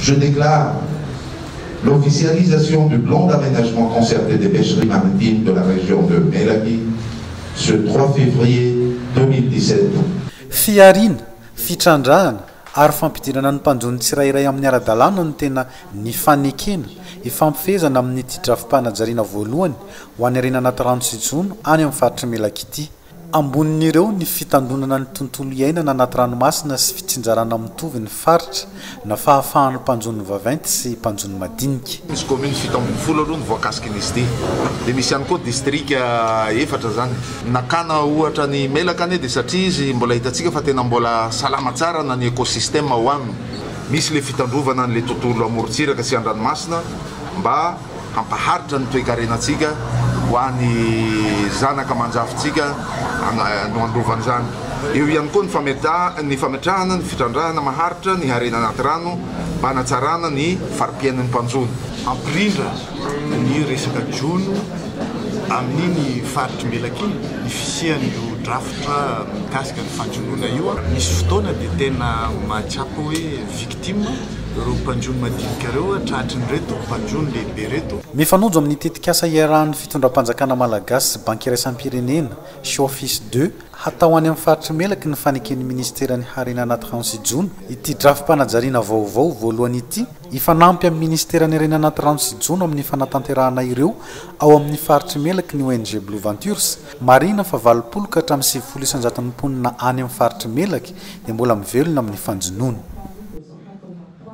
Je déclare l'officialisation du plan d'aménagement concerté des pêcheries maritimes de la région de Melaky ce trois février 2017. Fihariana, fitrandrahana ary fampidirana ny mpanjono tsirairay amin'ny ara-dalàna no tena nifanekena hifampifehezana amin'ity drafi-panajariana voalohany ho an'ny harena anaty rano sy jono any amin'ny faritr'i Melaky ity. Ambonin'ireo ny fitandroana ny tontolo iainana anaty ranomasina sy fitsinjarana mitovy ny faritra na fahafahan'ny mpanjono vaventy sy mpanjono madinika. Misy kaominina fito ambin'ny folo aloha ny voakasiky ny sdi dia misy ihany koa distrika efatra izany. Nakana ohatra ny Imelaka anie dia satria izy mbola hitantsika fa tena mbola salama tsara na ny ekosistema ao aminy. Misy ilay fitandrovana an'ilay tontolo amorontsiraka sy an-dranomasina mba. hampaharitra ny toekarenantsika ho an'ny zanaka aman-jafintsika no handova an'izany. Eo ihany koa ny fametrahana ny fitrandrahana maharitra ny harena anaty rano mba hanatsarana ny fari-piainan'ny mpanjono. Hampirindra ny resaka jono amin'iny faritr'i Melaky ny fisian'io drafitra mikasika ny fanjonoana io. Misy fotoana dia tena mahatsapa hoe victime. ireo mpanjono madinika ireo tratrin'ireto mpanjono lehibe ireto. Mifanonjo amin'ny tetikasa iarahan'ny fitondram-panjakana malagasy sy Banky iraisam-pirenena, Showfis ii, hatao any amin'ny faritr'i Melaky ny faneken'ny minisiteran'ny Harena anaty rano sy jono ity drafi-panajariana vaovao voalohany ity hifanampy amin'ny minisiteran'ny Harena anaty rano sy jono amin'ny fanatanterahana ireo ao amin'ny faritr'i Melaky ny ONG Blue Ventures Marihina fa valopolo ka hatramin'ny sivifolo isan-jaton'ny mponina any amin'ny faritr'i Melaky dia mbola mivelona amin'ny fanjonoana.